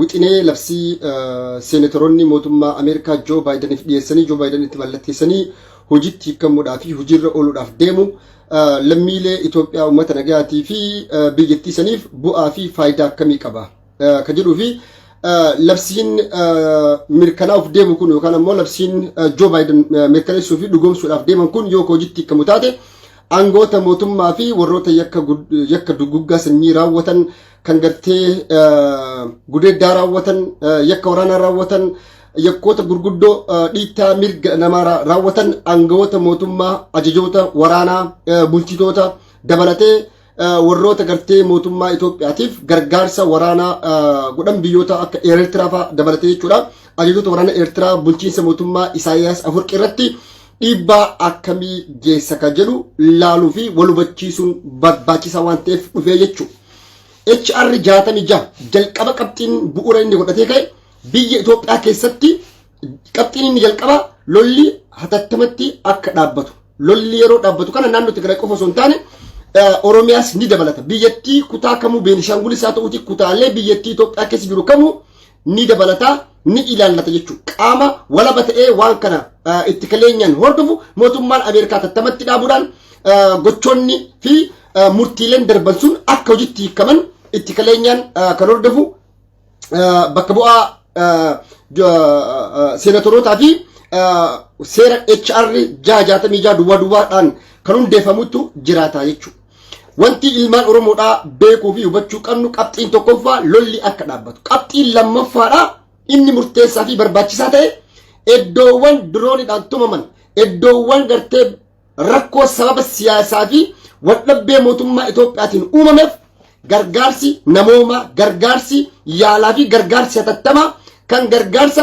wixinee labsii seeneetoroonni mootummaa Ameerikaa Joo Baayidaniif dhiyeessanii Joo Baayidan itti mallatteessanii hojiitti hiikamuudhaa fi hojiirra ooluudhaaf deemu lammiilee Itoophiyaa uummata nagayaatii fi biyyattii saniif bu'aa fi faayidaa akkamii qaba ka jedhuu fi labsiin mirkanaa'uuf deemu kun yookaan ammoo labsiin Joo Baayidan mirkaneessuu fi dhugoomsuudhaaf deeman kun yoo hojiitti hiikamu taate aangoota mootummaa fi warroota yakka duguuggaa sanyii raawwatan kan gartee gudeeddaa raawwatan yakka waraanaa raawwatan yakkoota gurguddoo dhiittaa mirga namaa raawwatan aangawoota mootummaa ajajoota waraanaa bulchitoota dabalatee warroota gartee mootummaa Itoophiyaatiif gargaarsa waraanaa godhan biyyoota akka Eertiraa fa'aa dabalatee jechuudha. Ajajoota waraana Eertiraa bulchiinsa mootummaa Isaayyaas Afurqi irratti dhiibbaa akkamii geessa kan jedhu laaluu fi wal hubachiisuun barbaachisaa waan ta'eef dhufee jechuudha. HR 66 jalqaba qabxiin bu'uura inni godhatee ka'e biyya Itoophiyaa keessatti qabxiin inni jalqaba lolli hatattamatti akka dhaabbatu. Lolli yeroo dhaabbatu kana naannoo Tigraay qofa osoo hin taane Oromiyaas ni dabalata. Biyyattii kutaa kamuu Beenishaangulis haa ta'uuti kutaalee biyyattii Itoophiyaa keessa jiru kamuu ni dabalata ni ilaallata jechuudha. Qaama walaba ta'ee waan kana itti kaleenyaan hordofu mootummaan Ameerikaa tattamatti dhaabuudhaan gochoonni fi murtiileen darban sun akka hojitti hiikaman itti kaleenyaan kan hordofu bakka bu'aa seenatorootaa fi seera HR 666 duwwaa duwwaadhaan kan hundeeffamutu jiraata jechuudha. Wanti ilmaan Oromoodhaa beekuu fi hubachuu qabnu qabxiin tokkoffaa lolli akka dhaabbatu. Qabxiin lammaffaadhaa inni murteessaa fi barbaachisaa ta'e iddoowwan diroonidhaan tumaman, iddoowwan gartee rakkoo sababa siyaasaa fi waldhabbee mootummaa Itoophiyaatiin uumameef gargaarsi namoomaa, gargaarsi yaalaa fi gargaarsi hatattamaa kan gargaarsa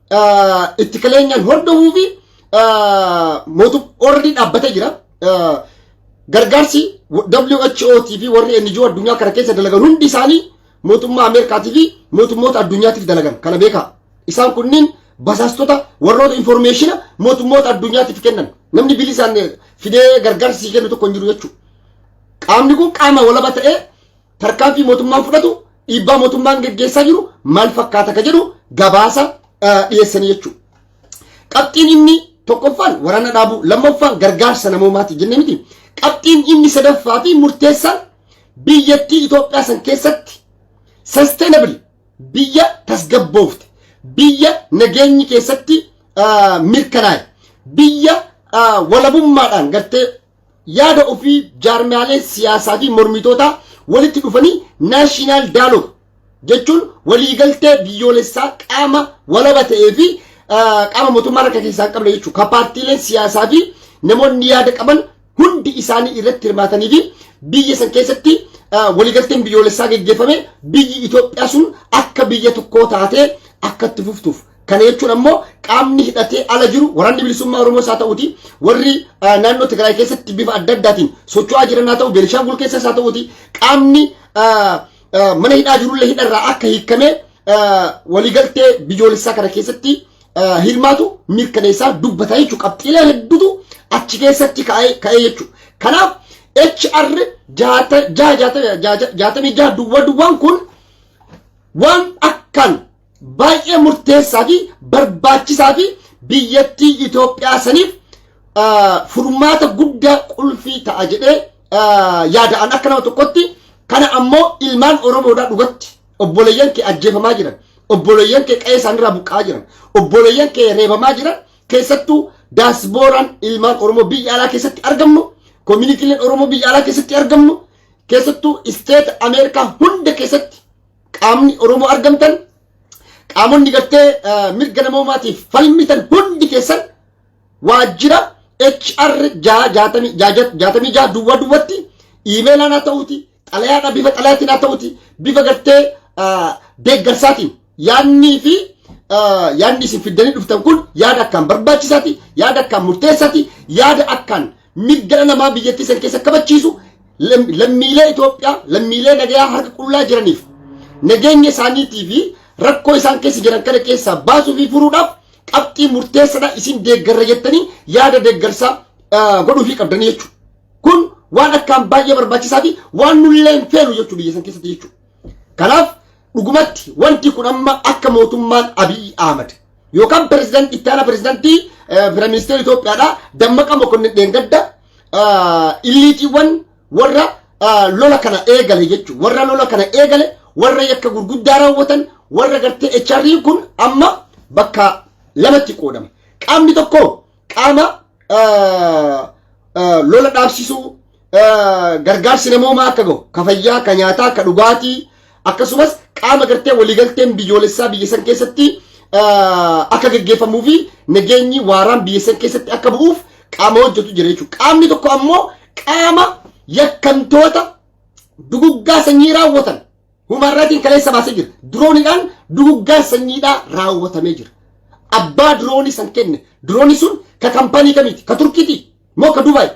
ittikaleenyaan hordofuu fi mootum ordi dhaabbatee jira. Gargaarsi WHOT fi warri NGO addunyaa kana keessa dalagan hundi isaanii mootummaa Ameerikaatii fi mootummoota addunyaatiif dalagan kana beekaa. Isaan kunniin basaastota warroota informeeshina mootummoota addunyaatiif kennan namni bilisaan fidee gargaarsi kennu tokko hin jiru jechuudha. Qaamni kun qaama walaba ta'ee Tarkaanfii mootummaan fudhatu dhiibbaa mootummaan geggeessaa jiru maal fakkaata ka jedhu gabaasa dhiyeessanii jechuudha. Qabxiin inni tokkoffaan waraana dhaabuu, lammaffaan gargaarsa namoomaati jennee miti. Qabxiin inni sadaffaa fi murteessaan biyyattii Itoophiyaa san keessatti sustainable biyya tasgabboofte, biyya nageenyi keessatti mirkanaa'e, biyya walabummaadhaan gartee yaada ofii jaarmiyaaleen siyaasaa fi mormitootaa walitti dhufanii naashinaal daalog jechuun waliigaltee biyyoolessaa qaama walaba ta'ee fi qaama mootummaa harka keessaa hin qabne jechuudha. Ka paartiileen siyaasaa fi namoonni yaada qaban hundi isaanii irratti hirmaatanii fi biyya san keessatti waliigalteen biyyoolessaa geggeeffame biyyi Itoophiyaa sun akka biyya tokkoo taatee akka itti fuftuuf Kana jechuun ammoo qaamni hidhatee ala jiru waraanni bilisummaa Oromoos haa ta'uuti warri naannoo Tigraay keessatti bifa adda addaatiin socho'aa jiran haa ta'u Beenishaangul keessas haa ta'uuti qaamni mana hidhaa jirullee hidharraa akka hiikamee waliigaltee biyyoolessaa kana keessatti hirmaatu mirkaneessaa dubbata jechuudha. Qabxiilee hedduutu achi keessatti ka'ee jechuudha. Kanaaf HR jaatamii jaha duwwaa duwwaan kun waan akkaan baay'ee murteessaa fi barbaachisaa fi biyyattii Itoophiyaa saniif furmaata guddaa qulfii ta'a jedhee yaada'an akka nama tokkotti kana ammoo ilmaan Oromoodhaa dhugatti obboleeyyan kee ajjeefamaa jiran obboleeyyan kee qa'ee isaanirraa buqqa'aa jiran obboleeyyan kee reebamaa jiran keessattuu daasbooraan ilmaan Oromoo biyya alaa keessatti argamnu koominiitiileen Oromoo biyya alaa keessatti argamnu keessattuu isteeta Ameerikaa hunda keessatti qaamni Oromoo argamtan qaamonni gartee mirga namoomaatiif falmitan hundi keessan waajjira HR jaatamii jaha duwwaa duwwatti iimeelaan haa ta'uuti xalayaadha bifa xalayaatiin haa ta'uuti bifa gartee deeggarsaatiin yaadnii fi yaadni isin fiddanii dhuftan kun yaada akkaan barbaachisaati yaada akkaan murteessaati yaada akkaan mirga dhala namaa biyyattii san keessa kabachiisu lam- lammiilee Itoophiyaa lammiilee nagayaa harka qullaa jiraniif nageenya isaaniitii fi rakkoo isaan keessa jiran kana keessaa baasuu fi furuudhaaf qabxii murteessadha isin deeggarra jettanii yaada deeggarsaa ah, godhuufii qabdanii jechuudha. Kun waan akkaan baay'ee barbaachisaa fi waan nullee hin feenu jechuudha biyya san keessatti jechuudha. Kanaaf Dhugumatti wanti kun amma akka mootummaan Abiy Ahmad yookaan pirezidaant itti aanaa pirezidaantii Piraministeera Itoophiyaadha Dammaqa Mokonnin Dheengadda illiitiiwwan warra lola kana eegale jechuun warra lola kana eegale warra yakka gurguddaa raawwatan warra gartee HRI kun amma bakka lamatti qoodame. Qaamni tokko qaama lola dhaabsisuu gargaarsi namoomaa akka gahu ka fayyaa ka nyaataa ka dhugaatii akkasumas qaama gartee waliigalteen biyyoolessaa biyya san keessatti akka gaggeeffamuu fi nageenyi waaraan biyya san keessatti akka bu'uuf qaama hojjetu jira jechuudha. Qaamni tokko ammoo qaama yakkamtoota duguggaa sanyii raawwatan Human Rights kaleessa baasee jira. Dirooniidhaan duguggaan sanyiidhaa raawwatamee jira. Abbaa diroonii san kenne. Diroonii sun ka kampaanii kamiiti? Ka Turkiiti? Moo ka Dubaay?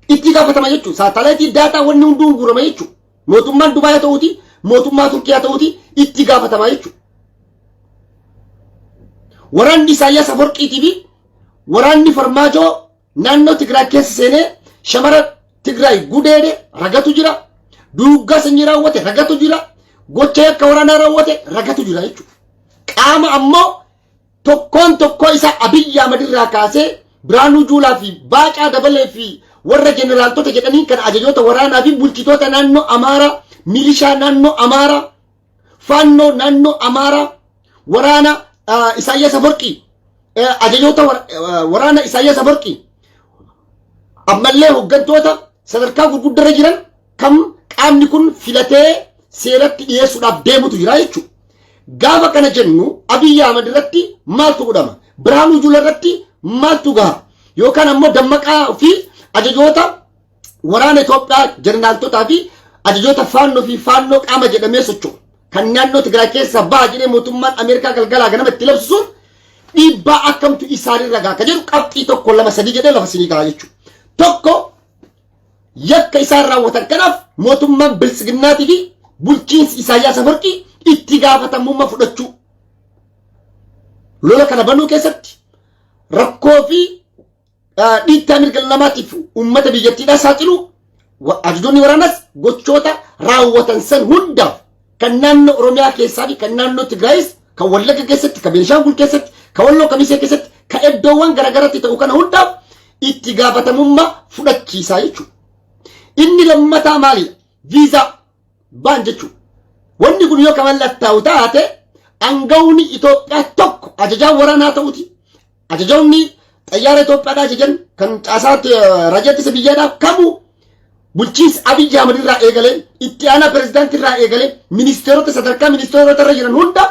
Itti gaafatama jechuudha. Saatalaayitii daataa wanni hunduu guurama jechuudha. Mootummaan Dubaay haa ta'uuti, mootummaa Turkii haa ta'uuti itti gaafatama jechuudha. Waraanni Isaayyaas Aforqiitii fi waraanni Farmaajoo Naannoo Tigraay keessa seenee shamara Tigraay gudeede ragatu jira. Duuggaa sanyii raawwate ragatu jira. Gocha yakka waraanaa raawwate ragatu jira jechuudha. Qaama ammoo tokkoon tokkoo isaa Abiyyi Ahmad irraa kaasee Biraanuu Juulaa fi Baacaa Dabalee fi warra jeneraaltota jedhanii kan ajajoota waraanaa fi bulchitoota naannoo Amaaraa, milishaa naannoo Amaaraa Faannoo naannoo Amaaraa waraana Isaayyaas Aforqii ajajoota waraana Isaayyaas Aforqii ammallee hooggantoota sadarkaa gurguddarra jiran kam qaamni kun filatee seeratti dhiyeessuudhaaf deemutu jira jechuudha. Gaafa kana jennu Abiyyi Ahmad irratti maaltu godhama? Birhaanuu Juula irratti maaltu gaha? Yookaan ammoo dammaqaa fi ajajoota Waraana Itoophiyaa jeneraaltotaa fi ajajoota faannoo fi faannoo qaama jedhamee socho'u kan naannoo Tigraay keessaa baha jedhee mootummaan Ameerikaa galgalaa ganama itti labsu sun dhiibbaa akkamtu isaanirra gaha ka jedhu qabxii tokko lama sadii jedhee lafa sinii gahaa jechuudha. Tokko yakka isaan raawwatan kanaaf mootummaan biltsiginnaatii fi bulchiinsi Isaayyaas Afarqii itti gaafatamummaa fudhachuu lola kana banuu keessatti rakkoo fi dhiittaa mirga namaatiif uummata biyyattiidhaa saaxilu ajajonni waraanaas gochoota raawwatan san hundaaf kan naannoo Oromiyaa keessaa fi kan naannoo Tigraayis kan Wallagga keessatti kan Beenshaangul keessatti kan Walloo Kamisee keessatti kan iddoowwan garaagaratti ta'u kana hundaaf itti gaafatamummaa fudhachiisaa jechuudha. Inni lammataa maali? Viizaa baan jechuudha. Wanni kun yoo kan mallattaa'u taate aangawni Itoophiyaa tokko ajajaan waraanaa ta'uti Ajajoonni xayyaara Itoophiyaadhaa ajajan kan caasaa raajaa ittisa biyyaadhaaf kamuu bulchiinsa Abiyyi Ahmad irraa eegalee itti aanaa pirezidaantii irraa eegalee ministeerota sadarkaa ministeerota irra jiran hunda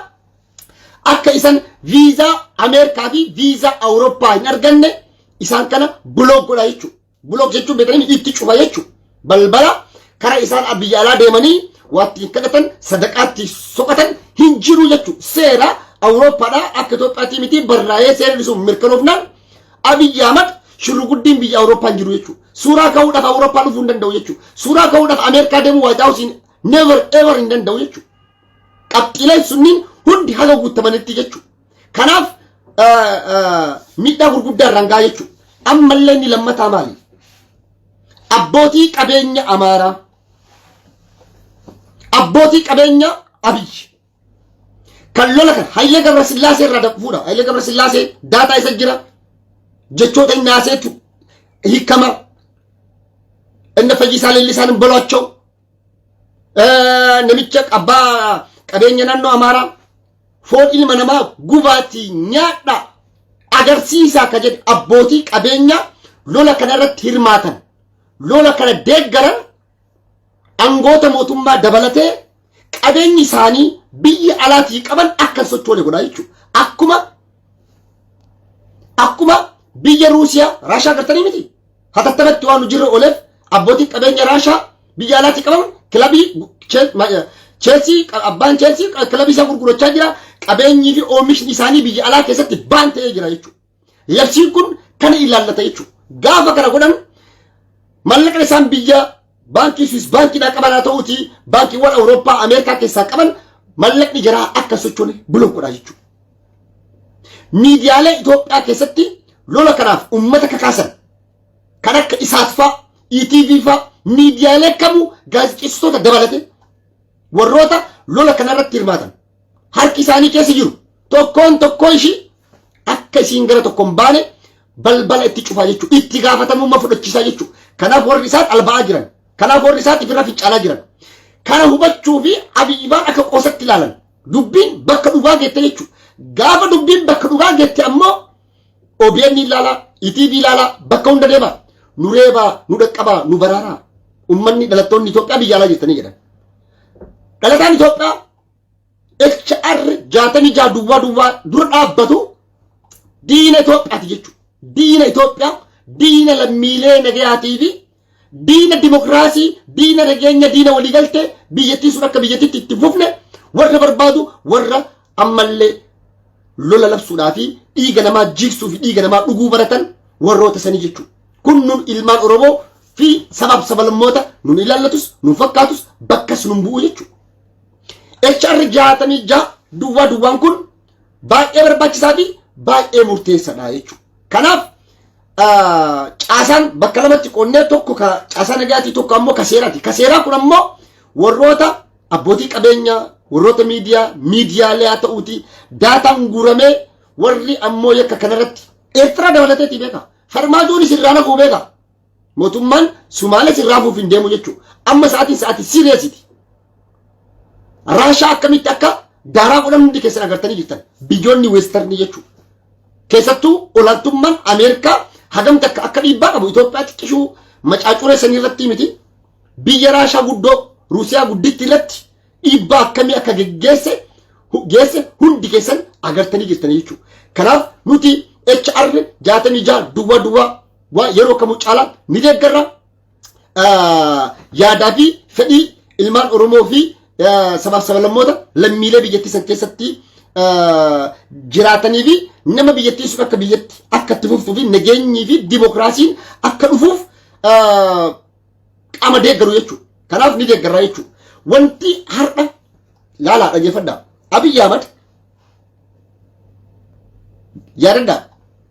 akka isan viizaa Ameerikaa fi viizaa Awurooppaa hin arganne isaan kana bilook godha jechuudha. Block jechuun beekanii itti cufa jechuudha. Balbala karaa isaan biyya alaa deemanii waatti hin kadhatan sadaqaatti soqatan hin jiru jechuudha. Seera Awurooppaadhaa akka Itoophiyaatti miti barraa'ee seerri sun mirkanoofnaan Abiyyi Ahmad shurruguddiin biyya Awurooppaa hin jiru jechuudha. Suuraa ka'uudhaaf Awurooppaa dhufuu hin danda'u jechuudha. Suuraa ka'uudhaaf Ameerikaa deemuu Waayit Haawusiin never ever hin danda'u jechuudha. Qabxiileen sunniin hundi haga guutamanitti jechuudha. Kanaaf miidhaa gurguddaa irraan gahaa jechuudha. Ammallee inni lammataa maali? Abbootii qabeenya Amaaraa, abbootii qabeenya Abiyyi kan lola kan Hayilee Gabra Sillaasee irraa fuudha. Hayilee Gabra Sillaasee daataa isa jira. Jechoota inni haaseetu hiikama. Inni fayyisaa leellisaan hin boloachoo. Namicha abbaa qabeenya naannoo Amaaraa foon ilma namaa gubaatii nyaadhaa agarsiisaa ka jedhe abbootii qabeenyaa lola kana irratti hirmaatan lola kana deeggaran angoota mootummaa dabalatee qabeenyi isaanii biyya alaatii qaban akka hin sochoone godhaa jechuudha. Akkuma akkuma biyya Ruusiyaa Raashaa gartanii miti. hatattamatti waan hojirra ooleef abbootiin qabeenya raashaa biyya alaatii qabaman kilabii cheelsii abbaan cheelsii kilabii isaa gurgurachaa jira qabeenyii fi oomishni isaanii biyya alaa keessatti baan ta'ee jira jechuudha. Labsiin kun kana ilaallata jechuudha. Gaafa kana godhan mallaqni isaan biyya Baankii Swiss baankiidhaa qaban haa ta'uutii baankiiwwan Awurooppaa Ameerikaa keessaa qaban mallaqni jaraa akka sochoone bilook godhaa jechuudha. Miidiyaalee Itoophiyaa keessatti lola kanaaf uummata kakaasan kan akka isaat faa, ETV faa miidiyaalee kamuu gaazexeessitoota dabalate warroota lola kanarratti hirmaatan harki isaanii keessa jiru tokkoon tokkoo ishii akka isiin gara tokko hin baane balbala itti cufaa jechuudha. Itti gaafatamummaa fudhachiisaa jechuudha. Kanaaf warri isaan alba'aa jiran. Kanaaf warri isaan ifirra fincaalaa jiran. Kana hubachuu fi abiyyibaan akka qoosatti ilaalan. Dubbiin bakka dhugaa geette jechuudha. Gaafa dubbiin bakka dhugaa geette ammoo OBN ilaalaa, ETV ilaalaa bakka hunda deemaa. Nu reebaa, nu dhaqqabaa, nu baraaraa. Uummanni dhalattoonni Itoophiyaa biyya alaa jirtanii jedhan. Dhalataan Itoophiyaa HR 66 duwwaa duwwaa dura dhaabbatu diina Itoophiyaati jechuudha. Diina Itoophiyaa, diina lammiilee nagayaatii fi diina dimokiraasii, diina nageenya, diina waliigaltee biyyattii sun akka biyyattiitti itti fufne warra barbaadu warra ammallee lola labsuudhaa fi dhiiga namaa jigsuu fi dhiiga namaa dhuguu baratan warroota sanii jechuudha. Kun nun ilmaan Oromoo fi sabaaf sabalmoota nun ilaallatus, nun fakkaatus, bakkas nun bu'u jechuudha. HR 66 duwwaa duwwaan kun baay'ee barbaachisaa fi baay'ee murteessadha jechuudha. Kanaaf caasaan bakka lamatti qonnee tokko ka caasaa nagaatii tokko ammoo ka seeraati. Ka seeraa kun ammoo warroota abbootii qabeenyaa warroota miidiyaa miidiyaalee haa ta'uuti daataan guuramee warri ammoo yakka kanarratti Eertiraa dabalateetii beeka. Farmaajoonis irraa naquu beeka. Mootummaan Sumaalees irraa fuuf hin deemu jechuudha. Amma sa'aatiin sa'aatii siiriyeesiti. Raashaa akkamitti akka daaraa godhan hundi keessan agartanii jirtan. Biyyoonni weestarnii jechuudha. Keessattuu olaantummaan Ameerikaa hagam takka akka dhiibbaa qabu Itoophiyaa xiqqishuu macaacuree sanii irratti miti. Biyya Raashaa guddoo Ruusiyaa gudditti irratti dhiibbaa akkamii akka geggeesse geesse hundi keessan agartanii jirtanii jechuudha. Kanaaf nuti HR 66 duwwaa duwwaa Waa yeroo kamuu caalaatti ni deeggarra. Yaadaa fi fedhii ilmaan Oromoo fi sabaaf sabalammoota lammiilee biyyattii san keessatti jiraatanii fi nama biyyattii sun akka biyyatti akka itti fuftuu fi nageenyii fi dimokiraasiin akka dhufuuf qaama deeggaru jechuudha. Kanaaf ni deeggarraa jechuudha. Wanti har'a laalaa dhaggeeffadhaa. Abiyyi Ahmad yaadadhaa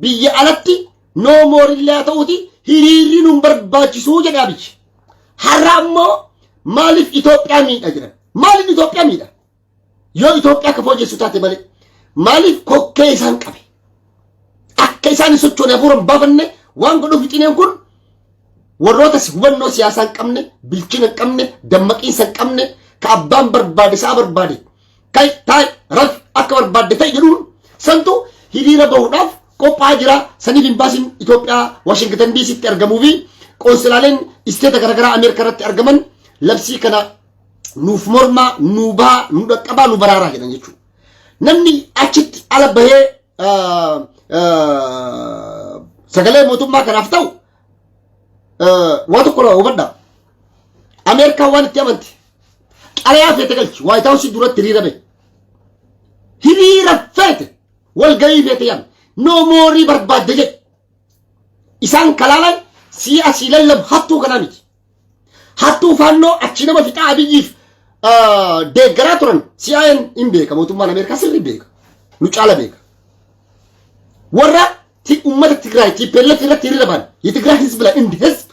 Biyya alatti no more illee haa ta'uuti hiriirri nun barbaachisuu jedhe Abiy. Har'a ammoo maaliif Itoophiyaa miidha jedhan. Maaliif Itoophiyaa miidha? Yoo Itoophiyaa akka fooyyessu taate malee maaliif kokkee isaan qabe? Akka isaan hin sochoone hafuura hin baafanne waan godhu fixineen kun warroota hubannoo siyaasaa hin qabne, bilchina hin qabne, dammaqiinsa hin qabne, ka abbaan barbaade sa'a barbaade Kai, tai, rafi akka barbaadde ta'i jedhuun santu hiriira bahuudhaaf qophaa'aa jira. Saniif imbaasiin Itoophiyaa Waashingtan DC'tti argamuu fi qoonsilaaleen isteeta garaagaraa Ameerikaa irratti argaman labsii kana nuuf mormaa, nuu bahaa, nu dhaqqabaa, nu baraaraa jedhan jechuudha. Namni achitti ala bahee ah, ah, sagalee mootummaa kanaaf ta'u ah, waa tokko hubadhaa. Ameerikaan waan itti amante Xalayaa feete galchi. Waayit Haawusii duratti hiriira bahe. Hiriira feete. Walgahii feete yaame. Noo moorii barbaadde jedhe. Isaan kalaalan sii asii lallabu hattuu kanaa miti. Hattuu faannoo achi nama fixaa abiyyiif deeggaraa turan CIA'n hin beeka mootummaan Ameerikaa sirri beeka. Nu caala beeka. Warra ummata Tigraay TPLF irratti hiriira bahan. Yitigraay hizbi la indi hizbi.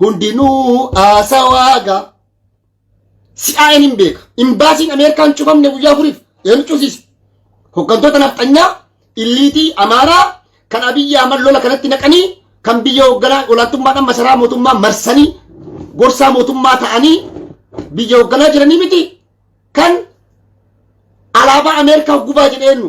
hundinuu haasawaaga si'aa'een hin beeka. Imbaasiin Ameerikaan cufamne guyyaa afuriif eenyu cufsiise? Hooggantoota nafxanyaa illiitii Amaaraa kan Abiyyi Ahmad lola kanatti naqanii kan biyya hoogganaa olaantummaadhaan masaraa mootummaa marsanii gorsaa mootummaa ta'anii biyya hoogganaa jiranii miti kan alaabaa Ameerikaa gubaa jedheennu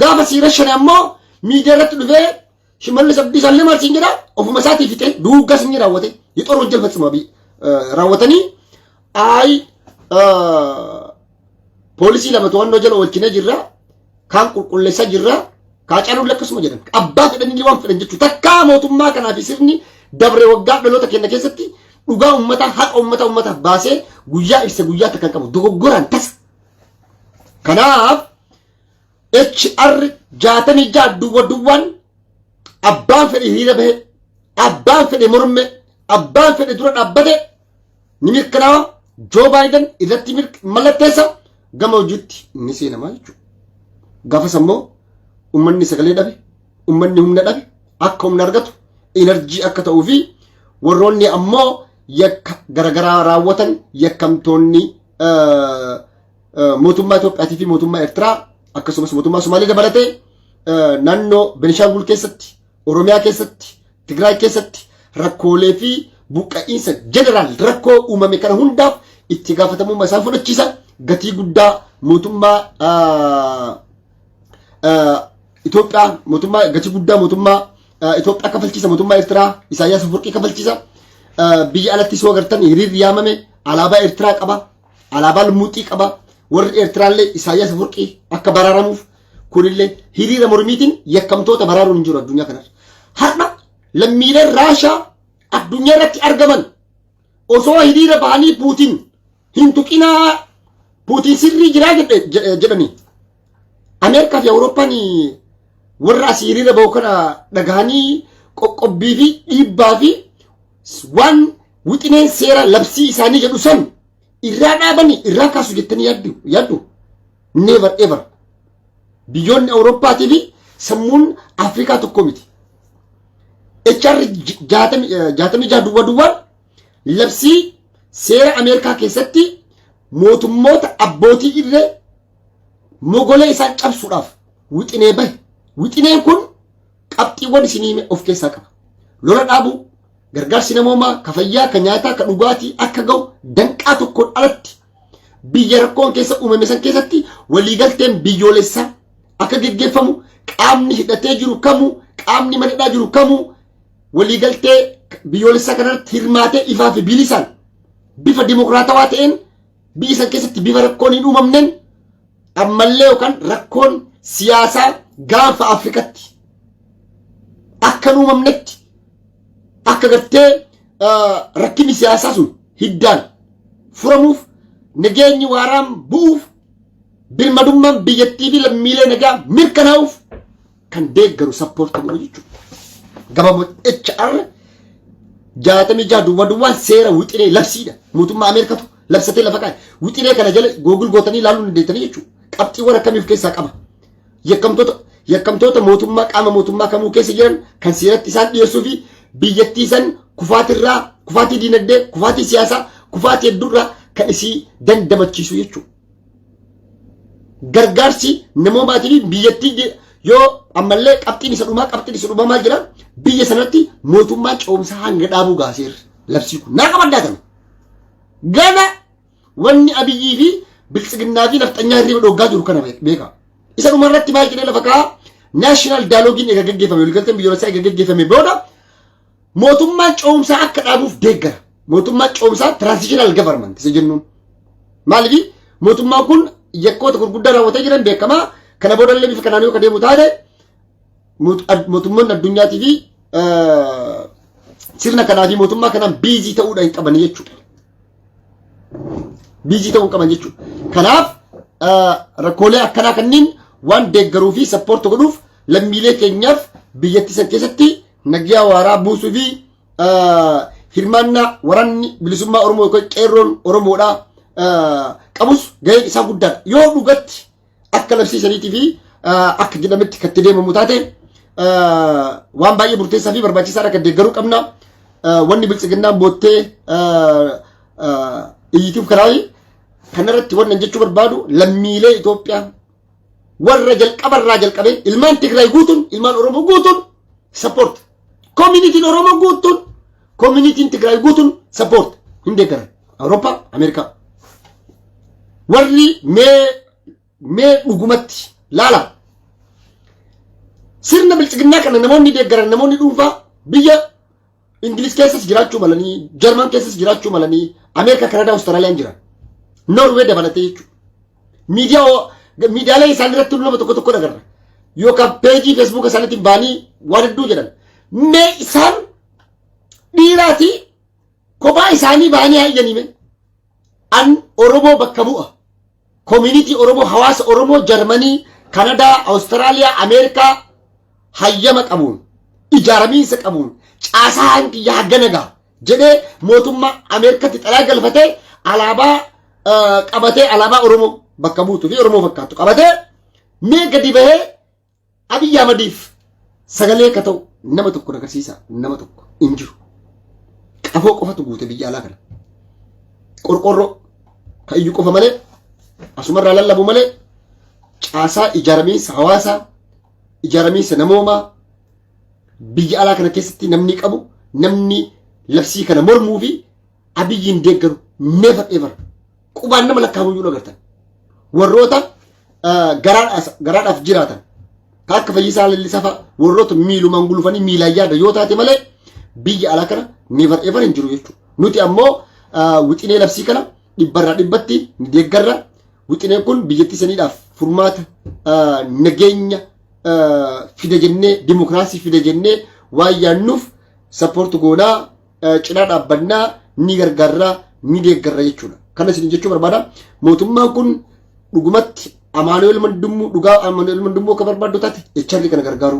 Gaafa sii rashane ammoo miidiyaa irratti dhufee shimallis abdiisaan lama arsiin jedha ofuma isaatii fixee duuggas inni raawwate yixoon hojjal fatsuma bi raawwatanii ayi poolisii lama to'annoo jala oolchine jirra kaan qulqulleessaa jirra kaa caaluun lakkasuma jedhan abbaa fedhanii waan fedhan jechuudha takkaa mootummaa kanaa fi sirni dabre waggaa dhaloota keenya keessatti dhugaa ummataa haqa ummataa ummataaf baasee guyyaa ibsa guyyaa takkan qabu dogoggoraan tasa Kanaaf HR jaatamii ja'a duwwa duwwaan abbaan fedhe hiriira bahe, abbaan fedhe morme, abbaan fedhe dura dhaabbate ni mirkanaawa Joo Baayiden irratti mirk- mallatteessa gama hojiitti ni seenama jechuudha. Gaafas ammoo ummanni sagalee dhabe, ummanni humna dhabe akka humna argatu inarjii akka ta'uu fi warroonni ammoo yakka garaagaraa raawwatan yakkamtoonni mootummaa Itoophiyaatii fi mootummaa Eertiraa akkasumas mootummaa Somaalee dabalatee naannoo Benishaangul keessatti, Oromiyaa keessatti, Tigraay keessatti rakkoolee fi buqqa'iinsa jeneraal rakkoo uumame kana hundaaf itti gaafatamummaa isaan fudhachiisa gatii guddaa mootummaa Itoophiyaa mootummaa gatii guddaa mootummaa Itoophiyaa kafalchiisa mootummaa Eertiraa Isaayyaas Afwerqii kafalchiisa. Biyya alatti soo agartan hiriirri yaamame alaabaa Eertiraa qaba. Alaabaa lumuuxii qaba. Warri Eertiraallee Isaayyaas Afwerqii akka baraaramuuf kunillee hiriira mormiitiin yakkamtoota baraaruun hin jiru addunyaa kanarra. Har'a lammiileen Raashaa addunyaa irratti argaman osoo hiriira bahanii Puutiin hin tuqinaa puutiin sirrii jiraa jedhanii ameerikaa fi awurooppaan warra asii hiriira bahu kana dhagahanii qoqqobbii fi dhiibbaa fi waan wixineen seera labsii isaanii jedhu san irraa dhaabanii irraa kaasu jettanii yaaddu yaaddu never ever biyyoonni awurooppaatii fi sammuun afrikaa tokko miti HR jaatamii jaa duwwaa duwwaan labsii seera Ameerikaa keessatti mootummoota abbootii irree mogolee isaan cabsuudhaaf wixinee bahe. Wixineen kun qabxiiwwan isin hime of keessaa qaba. Lola dhaabuu, gargaarsi namoomaa, ka fayyaa, ka nyaataa, ka dhugaatii akka ga'u danqaa tokkoon alatti biyya rakkoon keessa uumame san keessatti waliigalteen biyyoolessaa akka geggeeffamu qaamni hidhatee jiru kamuu qaamni mana hidhaa jiru kamuu waliigaltee biyyoolessaa kanarratti hirmaatee ifaa fi bilisaan bifa dimokiraatawaa ta'een biyya san keessatti bifa rakkoon hin uumamneen ammallee yookaan rakkoon siyaasaa gaanfa Afrikatti akka hin uumamnetti akka gartee rakkinni siyaasaa sun hiddaan furamuuf nageenyi waaraan bu'uuf birmadummaan biyyattii fi lammiilee nagaa mirkanaa'uuf kan deeggaru sappoorti godhu jechuudha. Gabaabuma HR jaatamii jaha duwwaa duwwaan seera wixinee labsiidha. Mootummaa Ameerikatu labsatee lafa kaa'e. Wixinee kana jala googil gootanii ilaaluu dandeettanii jechuudha. Qabxiiwwan akkamii of keessaa qaba? Yakkamtoota yakkamtoota mootummaa qaama mootummaa kamuu keessa jiran kan seeratti isaan dhiyeessuu fi biyyattii san kufaatirraa kufaatii diinagdee kufaatii siyaasaa kufaatii hedduurraa kan isii dandamachiisu jechuudha. gargaarsi namoomaatiif biyyattii yoo ammallee qabxiin isa dhumaa qabxiin isa dhumaa maal jira biyya sanatti mootummaan ce'umsaa hanga dhaabuu gaaseerra labsii kun naa qabaddaa kana gana wanni abiyyii fi biltsiginnaa fi nafxanyaa hirriba dhoggaa jiru kana beeka isa dhuma irratti maal jedhee lafa kaa'aa naashinaal daaloogiin egaa gaggeeffame waliigalteen biyyoolessaa egaa gaggeeffame booda Mootummaan ce'umsaa akka dhaabuuf deeggara. Mootummaa ce'umsaa transitional government isa jennuun. Maaliif mootummaan kun yakkoota gurguddaa raawwatee jiran beekamaa kana booda illee bifa kanaan yoo deemu taate mootummoonni addunyaatii fi sirna kanaa fi mootummaa kanaan biizii ta'uudha hin qaban jechuudha. Biizii ta'uu hin qaban jechuudha. Kanaaf rakkoolee akkanaa kanneen waan deeggaruu fi sappoorti godhuuf lammiilee keenyaaf biyyattii san keessatti Nagyaa waaraa buusuu fi hirmaannaa waraanni bilisummaa Oromoo yookaan qeerroon Oromoodhaa qabus gaheen isaa guddaadha. Yoo dhugatti akka labsii saniitii fi akka jedhametti kan itti deemamu taate waan baay'ee murteessaa fi barbaachisaadha kan deeggaruu qabna. Wanni biltsiginnaan boottee iyyituuf kanaafi kanarratti wanni jechuu barbaadu lammiilee Itoophiyaa warra jalqaba irraa jalqabee ilmaan Tigraay guutuun ilmaan Oromoo guutuun support communitiin Oromoo guutuun communitiin Tigraay guutuun support hin deeggaran Awurooppaa Ameerikaa warri mee mee dhugumatti laala sirna bilchiginnaa kana namoonni deeggaran namoonni dhuunfaa biyya Ingiliz keessas jiraachuu malanii, Jarman keessas jiraachuu malanii, Ameerikaa, Kanaadaa, Awustiraaliyaan jiran. Noorwee dabalatee jechuudha. Miidiyaa oo- miidiyaalee isaanii irratti nama tokko tokko agarra. Yookaan peejii feesbuuka isaaniitiin baanii waan hedduu jedhan. Mee isaan dhiiraati kophaa isaanii baanii hayyaniime. An Oromoo bakka bu'a. Community Oromoo hawaasa Oromoo Jarmanii, Kanadaa, Awustiraaliyaa, Ameerikaa hayyama qabuun ijaaramiinsa qabuun caasaa hangi yaa ganaga jedhee mootummaa Ameerikatti xalaa galfatee alaabaa qabatee alaabaa Oromoo bakka buutu fi Oromoo fakkaatu qabatee mee gadi bahee Abiy Ahmadiif sagalee akka ta'u nama tokko agarsiisa nama tokko hin jiru. Qafoo qofatu guute biyya alaa kana. Qorqorroo kan iyyuu qofa malee asumarraa lallabu malee caasaa ijaaramiinsa hawaasaa ijaaramiinsa namoomaa biyya alaa kana keessatti namni qabu namni labsii kana mormuu fi abiyyiin deeggaru never ever qubaan nama lakkaa'amuu iyyuu agartan warroota garaadhaaf jiraatan ka akka fayyisaa lallisaa fa'a warroota miilumaan gulufanii miilaan yaada yoo taate malee biyya alaa kana never ever hin jiru jechuudha nuti ammoo wixinee labsii kana dhibbarraa dhibbatti ni deeggarra wixineen kun biyyattii saniidhaaf furmaata nageenya fida jennee dimokiraasii fida jennee waan yaannuuf sappoortu goonaa cinaa dhaabbannaa ni gargaarraa ni deeggarra jechuudha. Kana isin jechuu barbaada. Mootummaan kun dhugumatti Amaanu'eel Mandummuu dhugaa Amaanu'eel Mandummuu akka barbaaddu taate echarri kana gargaaru.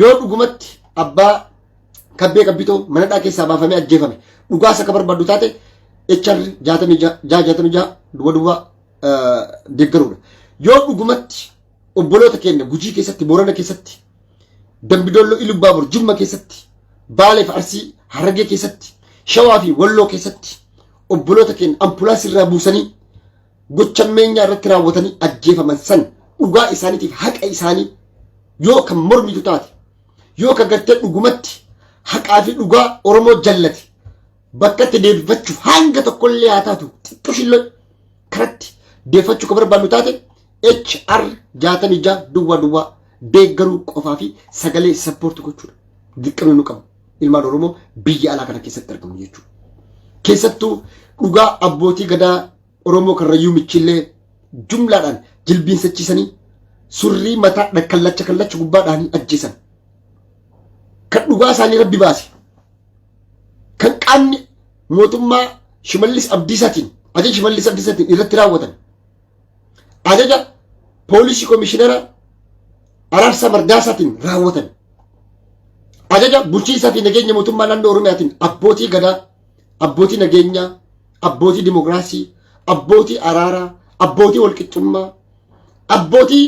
Yoo dhugumatti abbaa kabbee qabbitoo manadhaa keessaa baafamee ajjeefame dhugaas akka barbaaddu taate echarri jaatamii ja'a jaatamii ja'a duwwa duwwa deeggaruudha. Yoo dhugumatti obboloota keenya Gujii keessatti, Boorana keessatti, Dambidolloo Ilubbaabur, Jimma keessatti, Baaleef Arsii, Harargee keessatti, Shawaa fi Walloo keessatti obboloota keenya ambulaansii irraa buusanii gocha meenyaa irratti raawwatanii ajjeefaman san dhugaa isaaniitiif haqa isaanii yoo kan mormitu taate yoo kan gartee dhugumatti haqaa fi dhugaa Oromoo jallate Bakka itti deebifachuuf hanga tokkollee haa taatu xiqqoo shilloo karatti deeffachuu kan barbaannu taate HR 66 duwwaa duwwaa deeggaruu qofaa fi sagalee sappoorti gochuudha. Dirqamni nu qabu ilmaan Oromoo biyya alaa kana keessatti argamu jechuudha. Keessattuu dhugaa abbootii gadaa Oromoo karrayyuu michillee jumlaadhaan jilbiinsachiisanii surrii mataa dha- kallacha kallacha gubbaa dhahanii ajjeesan. Kan dhugaa isaanii rabbi baase. kan qaamni mootummaa Shimallis Abdiisaatiin ajaja Shimallis Abdiisaatiin irratti raawwatan ajaja poolisii komishinara Araarsaa Mardaasaatiin raawwatan ajaja bulchiinsaa fi nageenya mootummaa naannoo Oromiyaatiin abbootii gadaa abbootii nageenyaa abbootii dimokiraasii abbootii araaraa abbootii walqixxummaa abbootii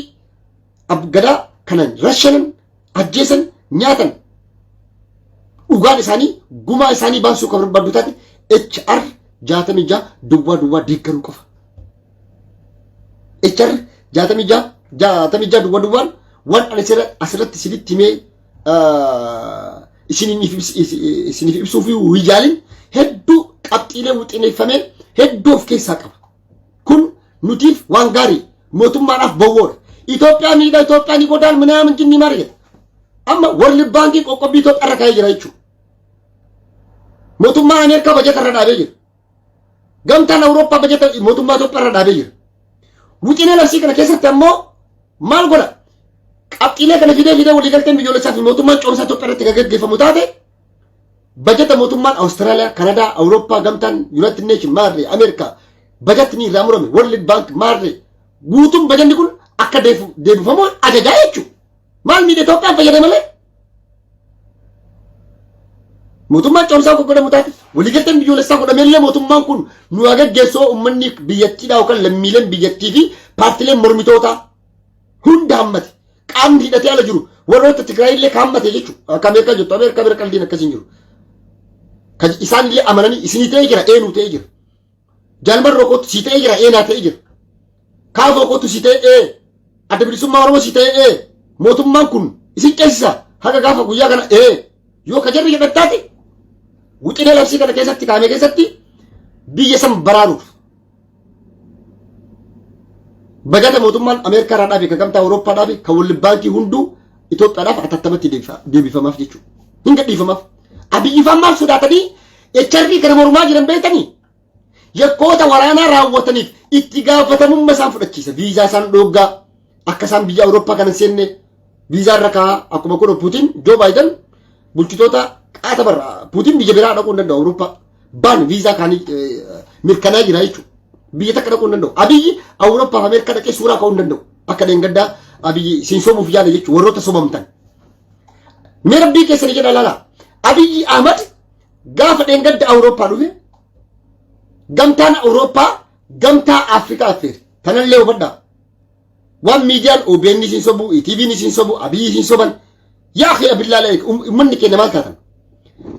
gadaa kana rashanan ajjeesan nyaatan dhugaan isaanii gumaa isaanii baasuu kan barbaaddu taate HR jaatamii ja'a duwwaa duwwaa deeggaruu qofa. HR jaatamii ja'a jaatamii ja'a duwwaa duwwaan waan ani asirratti isinitti himee isiniif ibsuuf hin yaalin hedduu qabxiilee wixineeffamee hedduu of keessaa qaba. Kun nutiif waan gaarii mootummaadhaaf bowwoodha. Itoophiyaa miidha, Itoophiyaa ni godaan minaamin jinni maal jedha. Amma warri baankiin qoqqobbii Itoophiyaa irra kaa'ee jira jechuudha. Mootummaan Ameerikaa bajata irra dhaabee jira. Gamtaan Awurooppaa bajata mootummaa Itoophiyaa irra dhaabee jira. Wixinee labsii kana keessatti ammoo maal godha? Qabxiilee kana fidee fidee waliigalteen biyyoolessaa fi mootummaan coomsaa Itoophiyaa irratti kan gaggeeffamu taate Bajata mootummaan Awustiraaliyaa, Kanadaa, Awurooppaa, Gamtaan, Yuunaayitid Neeshin, Maarree, Ameerikaa bajatni irraa murame, World Bank, Maarree guutuun bajanni kun akka deefu- deebifamu ajajaa jechuudha. Maal miidha Itoophiyaan fayyada malee? Mootummaan cimsaa akka godhamu taate waliigalteen biyyoolessaa godhamellee mootummaan kun nu haa gaggeessu uummanni biyyattiidhaa yookaan lammiileen biyyattii fi paartileen mormitootaa hunda hammate. qaamni hidhatee ala jiru warroota Tigraay illee ka hammate jechuudha. Akka Ameerikaa jirtu Ameerikaa bira qaldiin akkasii hin jiru. Kan isaan illee amananii isinii ta'ee jira eenuu ta'ee jira. Jaalmarroo kootu sii ta'ee jira eenaa ta'ee jira. Kaafoo kootu sii ta'ee ee adda bilisummaa Oromoo sii ta'ee ee mootummaan kun isin ceesisa haga gaafa guyyaa kana ee yoo ka jarri jedhan taate wixinee labsii kana keessatti kaa'ame keessatti biyya san baraaruuf Bagata mootummaan Ameerikaa irraa dhaabe, kan gamtaa Awurooppaa dhaabe, kan walli baankii hunduu Itoophiyaadhaaf atattamatti deebifa- deebifamaaf jechuudha. Hin gadhiifamaaf. Abiyyi faan maal sodaatanii HRD kana mormaa jiran beektanii? Yakkoota waraanaa raawwataniif itti gaafatamummaa isaan fudhachiisa. Viizaa isaan dhooggaa. Akka isaan biyya Awurooppaa kana hin seenne viizaa irra kaa'aa akkuma kun Puutiin Joo Baayidan bulchitoota qaata barra Puutiin biyya biraa dhaquu hin danda'u Awurooppaa baan viizaa kaanii mirkanaa jira jechuudha. Biyya takka dhaquu hin danda'u. Abiyyi Awurooppaaf Ameerikaa dhaqee suuraa ka'uu hin danda'u. Akka dheengaddaa Abiyyi siin sobuuf yaala jechuudha warroota sobamtan. Mee rabbii keessanii jedha laala. Abiyyi Ahmad gaafa dheengadda Awurooppaa dhufe gamtaan Awurooppaa gamtaa Afrikaa affeere. Tanallee hubadhaa. Waan miidiyaan OBN isin sobu, TVn isin sobu, Abiyyi isin soban. Yaa akhi abillaa laayik ummanni keenya maal taatan?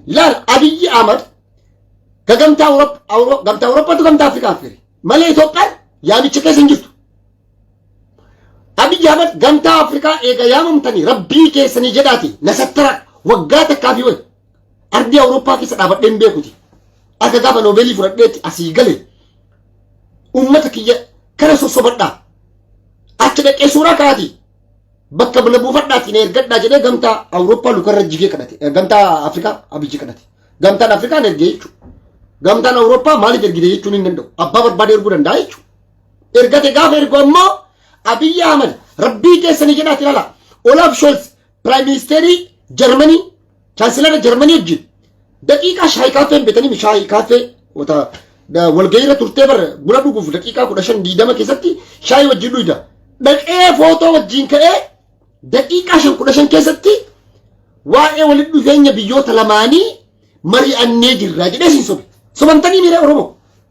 Laal Abiyyi Ahmad ka gamtaa Awurop- Awuro- gamtaa Awuroppaatu gamtaa Afrikaa affeere. Malee Itoophiyaan yaamicha keessa hin jirtu. Abiyyi Ahmad gamtaa Afrikaa eega yaamamtanii rabbii keessanii jedhaati na sattara waggaa takkaa fi wayi. Ardii Awuroppaa keessa dhaabadhee hin beekuti. Akka gaafa noobeelii fudhadheetti asii gale Uummata kiyya kana sossobadhaa. Achi dhaqee suuraa ka'aatii. Bakka bula buufadhaatiin ergadhaa jedhee gamtaa Awurooppaa lukarra jigee kadhate. Eh, Gamtaa Afrikaa abijji kadhate. Gamtaan Afrikaan ergee jechuudha. Gamtaan Awurooppaa maaliif ergite jechuun hin danda'u. Abbaa barbaade erguu danda'a jechuudha. Ergate gaafa ergu ammoo Abiyyi Ahmad rabbii keessanii jedhaati ilala. Olaaf Shoolz Piraayim Ministeerii Jarmanii Chaansilara Jarmanii wajjin daqiiqaa shaayii kaaffee hin beekanii shaayii kaaffee wata walga'iirra turtee bara buna dhuguuf daqiiqaa kudha shan diidama keessatti shaayii wajjin dhuyda dhaqee footoo wajjin ka'ee daqiiqaa shan kudha shan keessatti waa'ee walitti dhufeenya biyyoota lamaanii mari'annee jirra jedhee siin sobe sobamtanii miira Oromoo.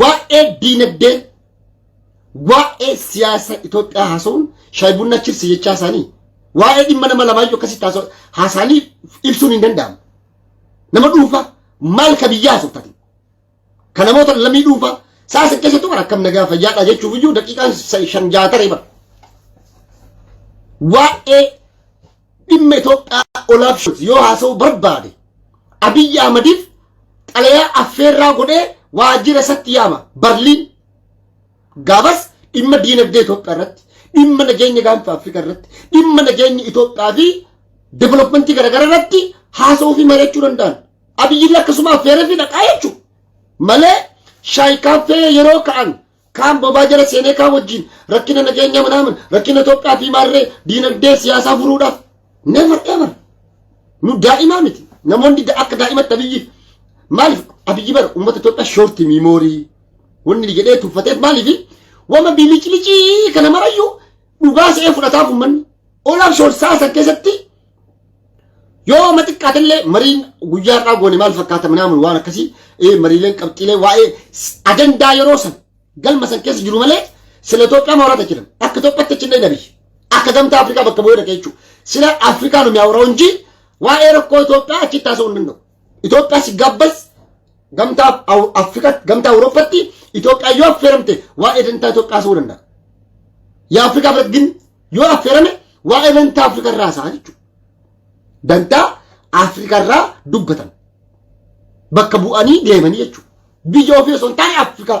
Waa'ee diinagdee, waa'ee siyaasa Itoophiyaa haasa'uun shaayii bunna chipsi jechaa isaanii waa'ee dhimma nama lamaayyuu akkasitti haasa'anii ibsuun hin danda'amu. Nama dhuunfaa maal ka biyyaa haasoftaati? Ka namoota lammii dhuunfaa sa'a san keessattuu bara akkam nagaa fayyaadha jechuuf iyyuu daqiiqaan shan ja'a taree bara. Waa'ee dhimma Itoophiyaa olaaf shot yoo haasa'uu barbaade Abiyyi Ahmadiif xalayaa affeerraa godhee waajjira isatti yaama Barliin. Gaafas dhimma diinagdee Itoophiyaa irratti, dhimma nageenya gaanfa Afrikaa irratti, dhimma nageenya Itoophiyaa fi developmentii garaagaraa irratti haasa'uu fi mari'achuu danda'an. Abiyyi akkasuma affeeree fi dhaqaa jechuudha. Malee shaayii kaaffee yeroo ka'an kaan bobaa jala seenee kaan wajjin rakkina nageenya manaaman rakkina Itoophiyaa fi maarree diinagdee siyaasaa furuudhaaf never ever nu daa'imaa miti namoonni da- akka daa'imatti abiyyi maaliif abiyyi bara uummata Itoophiyaa shoorti miimoorii wanni jedhee tuffateef maaliif wama biliclicii kana marayyuu dhugaa se'ee fudhataaf uummanni olaaf shoorsaa san keessatti Yoo amma xiqqaatillee mariin guyyaa irraa goone maal fakkaata minaamun waan akkasii ee mariileen qabxiilee waa'ee s- ajandaa yeroo san galma san keessa jiru malee sila Itoophiyaa maawrata jiran akka Itoophiyaatti achi hin dhayin abiyyi akka gamtaa Afrikaa bakka bu'ee dhaqee jechuudha. Sila Afrikaan humyaa warra hojii waa'ee rakkoo Itoophiyaa achitti haasa'uu hin danda'u. Itoophiyaa si gabbas gamtaa Aw- Afrikaatti gamtaa Awurooppatti Itoophiyaa yoo affeeramte waa'ee dantaa Itoophiyaa haasa'uu danda'a. Yaa Afrikaa biratti gin yoo affeerame waa'ee dantaa Afrikaa irraa haasa'a jechuudha. Dantaa Afrikaa irraa dubbatan. Bakka bu'anii deemanii jechuudha. Biyya ofii osoo hin taane Afrikaa.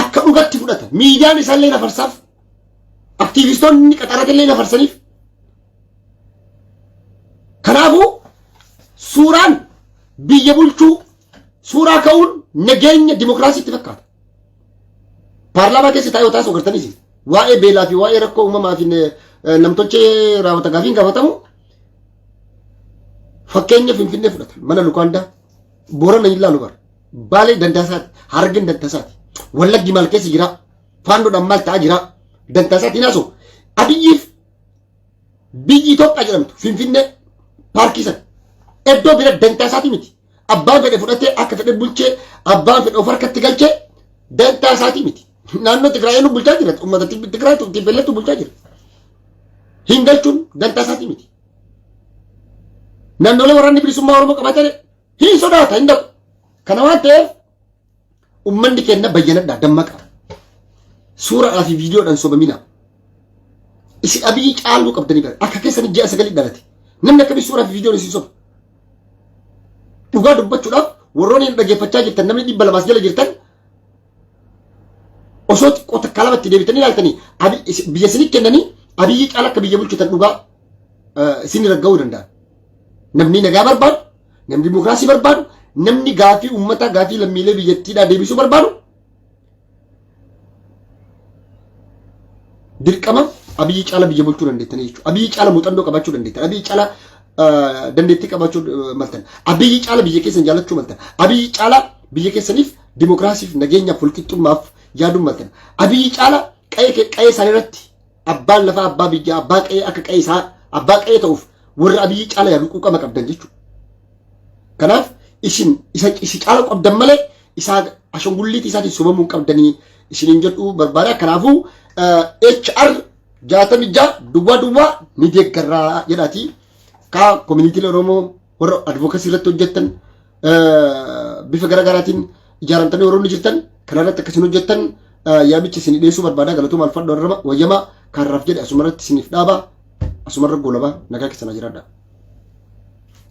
akka dhugatti fudhata. Miidiyaan isaallee nafarsaaf. Aktiivistoonni qaxaratillee nafarsaniif. Kanaafuu suuraan biyya bulchuu suuraa ka'uun nageenya dimokiraasiitti fakkaata. Paarlaamaa keessa taa'ee taasoo gartaniis waa'ee beelaa fi waa'ee rakkoo uumamaa fi namtolchee raawwata gaafiin gaafatamu fakkeenya Finfinnee fudhata mana Lukaandaa Boorana hin laalu bara. Baalee dantaasaati. Harargeen dantaasaati. Wallaggi maal keessa jira? Faandoodhaan maal ta'aa jira? Dantaasaati hin haasa'u. Abiyyiif biyyi Itoophiyaa jedhamtu Finfinnee paarkii sana. Iddoo bira dantaasaati miti. Abbaan fedhe fudhatee akka fedhe bulchee abbaan fedhe of harkatti galchee dantaasaati miti. Naannoo Tigraayeen bulchaa jira. Uummata Tigraay Tiifeelleetu bulchaa jira. Hin galchuun dantaasaati miti. Naannolee waraanni bilisummaa Oromoo qabatee hin sodaata hin dhaqu kana waan ta'eef ummanni keenya bayyanadha dammaqa suuraa fi viidiyoodhaan sobamina isin abiyyi caaluu qabdanii bara akka keessan ji'a sagalii dhalate namni akkamii suuraa fi viidiyoon isin soba dhugaa dubbachuudhaaf warroonni hin dhaggeeffachaa jirtan namni dhibba lamaas jala jirtan osoo xiqqoo takkaa lamatti deebitanii ilaaltanii abi- is- biyya isinii kennanii abiyyi caala akka biyya bulchitan dhugaa eh, isin ragga'uu danda'a. Namni nagaa barbaadu, namni dimokiraasii barbaadu, namni gaafii uummataa gaafii lammiilee biyyattiidhaa deebisuu barbaadu dirqama abiyyi caala biyya bulchuu dandeettanii jechuudha. Abiyyi caala muuxannoo qabaachuu dandeettan. Abiyyi caala dandeettii qabaachuu maltan. Abiyyi caala biyya keessan jaalachuu maltan. Abiyyi caala biyya keessaniif dimokiraasiif nageenyaaf walqixxummaaf yaaduu maltan. Abiyyi caala qa'ee isaanii irratti Abbaan lafaa abbaa biyyaa abbaa qe'ee akka qe'ee isaa abbaa qe'ee ta'uuf warra abiyyi caala yaalu quuqama qabdan jechuudha. Kanaaf isin isa isi caala qabdan malee isaa ashangulliitii isaatiin sobamuu hin qabdanii isiniin jedhu barbaada. Kanaafuu HR jaatamii ja'a duwwaa duwwaa ni deeggarraa jedhaatii kaa koominiitiin Oromoo warra advocacy irratti hojjettan bifa gara garaatiin ijaaramtanii warroonni jirtan kanarratti akkasiin hojjettan yaamicha isin dhiyeessuu barbaada galatuma alfadhu arraba wayyamaa kaarraaf jedhe asumarratti isiniif dhaaba asumarra goolaba nagaa keessan jiraadha.